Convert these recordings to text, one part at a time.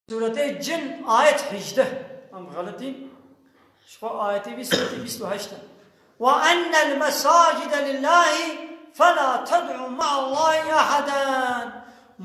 Sûretê Cin ayet hîjdeh, em xelit in, jixwe ayetê vî sûretê bîst û heşt e. Wa ennel mesacide lillahî fela ted'û me'allahî eheden.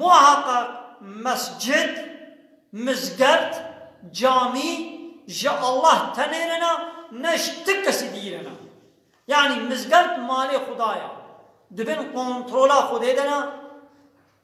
Muheqeq mescid, mizgeft, camî ji Allah tenê re ne, ne ji ti kesî dî re ne. Yanî mizgeft malê Xuda ye, di bin kontrola Xwedê de ne.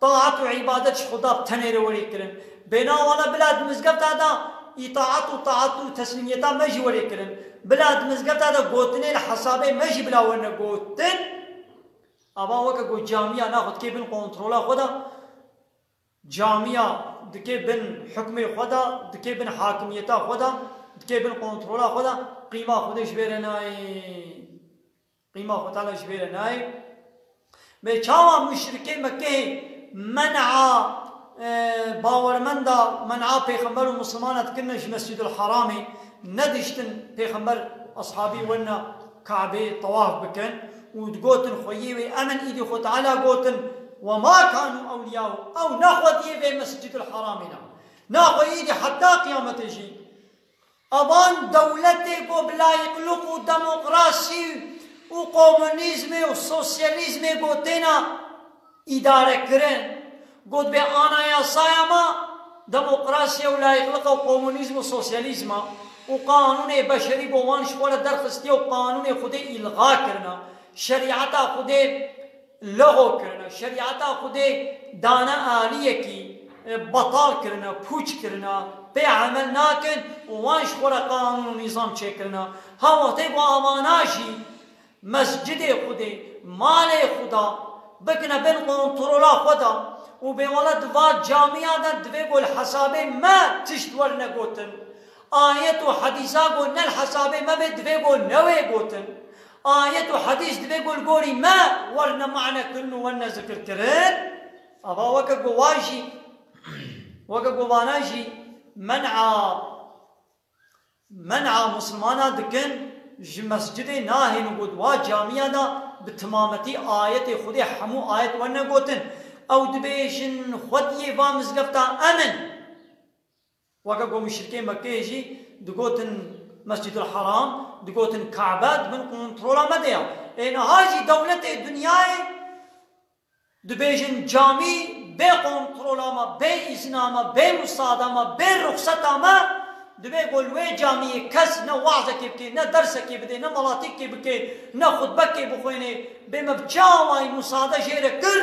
Taat û îbadet ji Xweda tenê re werê kirin. Bêhna wan e bila di mizgefta de îtaat û taat û teslîmiyeta me jî werê kirin. Bila di mizgefta de gotinê li hesabê me jî bila werne gotin. Ava weke ku camîya na xwe dikê bin kontrola xwe de, camîya dikê bin hukmê xwe de, dikê bin hakimiyeta xwe de, dikê bin kontrola xwe de, qîma Xwedê ji bê re nayê. Qîma xwe tane ji vê re nayê. Bê çawa muşrikê Mekkehê men'a bawermenda men'a pêxember û misilmana dikirine ji Mescidul Haramê nediştin pêxember eshabî wena Kabê tewaf bikin û digotin xweyê wê emin îdî xwe Teala gotin wema kanu ewliyau ew nexwediyê vê Mescidul Haramê ne na xwe îdî heta qiyametê jî Avan dewletê ku bi layîqluk û demokrasî û komunîzmê û sosyalîzmê ku têna îdarekirin gotibê anayasaya me demokrasî û layîqlik e û komunîzm û sosyalîzm e û qanûnê beşerî bo wan ji xwe re derxistiye û qanûnê Xwedê îlga kirine, şerîeta Xwedê. Lehor kirine, şerîeta Xwedê dane aliyekî, betal kirine, pûç kirine, pê emel nakin û wan ji xwe re qanûn û nîzam çêkirine. Ha wextê ku avana jî mescidê Xwedê, malê Xweda bikine bin kontrola xwe de û bê wele di va camîya de divê ku li hesabê me tişt werine gotin. Ayet û hedîsa ku ne li hesabê me bê divê ku newê gotin. Ayet û hedîs divê ku li gorî me werne mane kirin û werne zikir kirin. Ava weke ku wan jî weke ku vanan jî men'a men'a misilmanan dikin ji mescidê nahêlin got wa camîya de bi timametî ayetê Xwedê hemû ayet werne gotin. Ew dibêjin Xwediyê va mizgefta em in. Weke ku muşrikên Mekkeyê jî digotin Mescidul Haram, digotin Ka'be di bin kontrola me de ye. Ê niha jî dewletê dinyayê dibêjin camî bê kontrola me, bê îzina me, bê musada me, bê ruxseta me divê ku li wê camîyê kes ne we'zekê bike, ne dersekê bide, ne malatîkekê bike, ne xutbekê bixwêne. Bê me bi çi awayî musade jê re kir?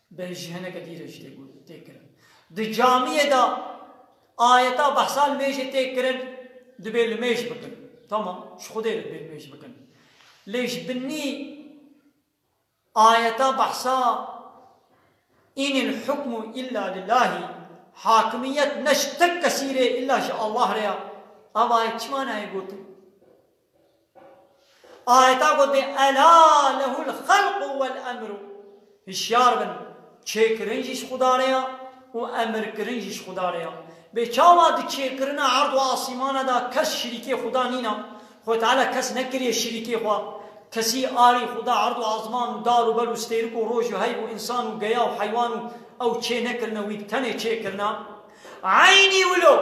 Belê ji heneke dîr e jî tê got, tê kirin. Di camiyê de ayeta behsa li mêjê tê kirin, dibê li mêj bikin. Tamam, ji xwedê re dibê li mêj bikin. Lê ji binî ayeta behsa Inil hukmu illa lillahî, hakimiyet ne ji tek kesî rê illa ji Allah re ya, eva ye çima nayê gotin? Ayeta gotê Ela lehul xelqu wel emru, hişyar bin, çêkirin jî ji Xuda re ya û emirkirin jî ji Xuda re ya. Bê çawa di çêkirina erd û asîmana de kes şirîkê Xuda nîna? Xwê Teala kes nekiriye şirîkê xwe. Kesî arî Xuda erd û azman û dar û ber û stêrik û roj û heyv û însan û geya û heywan û ew çê nekirine wî bi tenê çêkirina. Eynî wilo,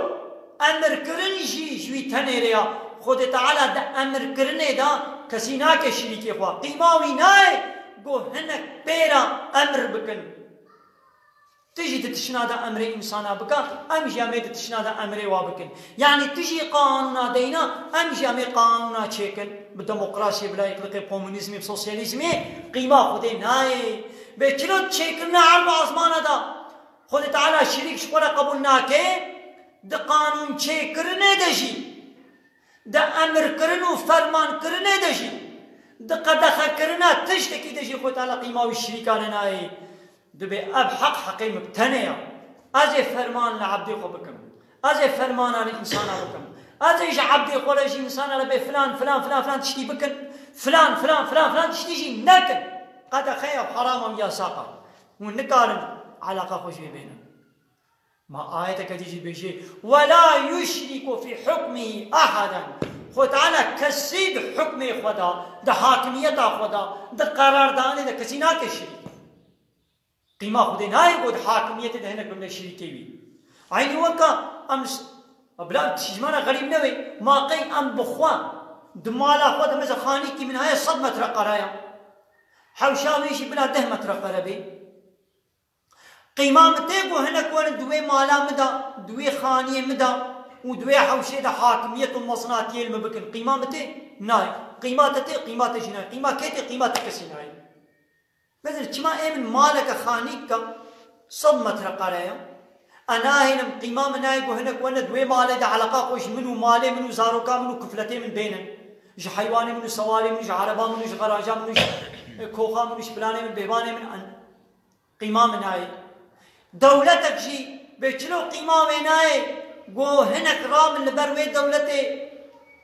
emirkirin jî ji wî tenê re ya. Xwedê Teala di emirkirinê de kesî nake şirîkê xwe. Qîma wî nayê ku hinek pêra emr bikin. Tu jî di tişina de emrê însanan bike, em jî em ê di tişina de emrê wan bikin. Yanî tu jî qanûna deyna, em jî em ê qanûna çêkin. Bi demokrasiyê, bi layîklikê, komûnîzmê, bi sosyalîzmê qîma Xwedê nayê. Bê çilot çêkirina erba ezmana de Xwedê Teala şirîk ji xwe re qebûl nake, di qanûnçêkirinê de jî, di emirkirin û fermankirinê de jî, di qedexekirina tiştekî de jî Xwedê Teala qîma wî şirîka re nayê. Dibê ev heq heqê min bi tenê ya. Ez ê ferman li ebdê xwe bikim. Ez ê fermana li însanan bikim. Ez ê ji ebdê xwe re ji însanan re bê filan filan filan filan tiştî bikin, filan filan filan filan tiştî jî nekin. Qedexeya herama û yasaxa Hûn nikarin eleqa xwe jê bênin. Ma ayeteke dî jî bêjê, Wela yuşrîku fî hukmihî ehaden, Xwe Teala kesî di hukmê xwe de, di hakimiyeta xwe de, di qerardanê de kesî nake şirîk. Qîma Xwedê nayê ku di hakimiyetê de hinek bimre şirîkê wî. Eynî weka em li Ma bila em tîjmana xerîb nebe, ma qey em bi xwe, di mala xwe de mêza xanîkî min heye sed metreqare ya. Hewşa wê jî bila deh metre xwe re bê. Qîma min tê ku hinek werin di wê mala min de, di wê xaniyê min de û di wê hewşê de hakimiyet û mezlatiyê li min bikin. Qîma min tê? Nayê. Qîma te tê? Qîma te jî nayê. Qîma kê tê? Qîma te kesî nayê. Bezir, çima ê min maleke xanîk ke sed metrekare ye, Ez nahêlim, qîma min nayê ku hinek wene di wê malê de eleqa xwe ji min û malê min û zaroka min û kufletê min bêhnin. Ji heywanê min û sewarê min û ji ereba min û ji xeraja min û ji koxa min û ji planê min bêvanê min ez qîma min nayê. Dewletek jî bê çilo qîma wê nayê ku hinek ra min li ber wê dewletê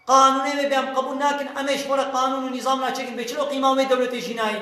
qanûnê wê bê em qebûl nakin, em ê ji xwe re qanûn û nîzam naçêkin bê çilo qîma wê dewletê jî nayê.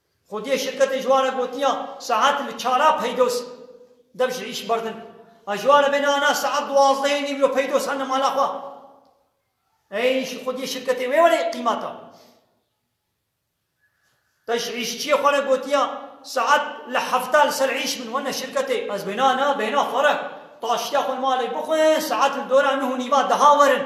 Xwediyê şirketê ji wan re gotiya saet li çar a peydos dev ji îş berdin. Ez ji wan re bêne ana saet duwazdehê nîv lo peydos henim mala xwe. Ey îşî xwediyê şirketê wê were qîmeta. Te ji îşçiyê xwe re gotiya saet li heft a li ser îş bin wene şirketê. Ez bêne ana bêna xwe re taştiya xwe li malê bixwin saet li dora nuh û nîva deha werin.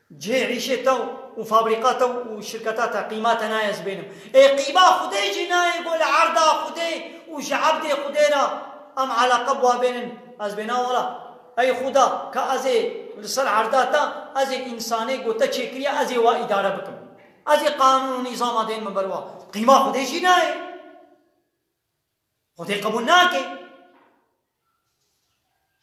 Cihê îşê te û fabrîka te û şirketa te qîma te nayê ez bênim. Ê qîma Xwedê jî nayê ku li erda Xwedê û ji ebdê Xwedê re em eleqe bi we bênin ez bêna wala. Ey Xweda ka ez ê li ser erda te ez ê însanê ku te çêkiriye ez ê we îdare bikim. Ez ê qanûn û nîzama dên min ber we. Qîma Xwedê jî nayê. Xwedê qebûl nake.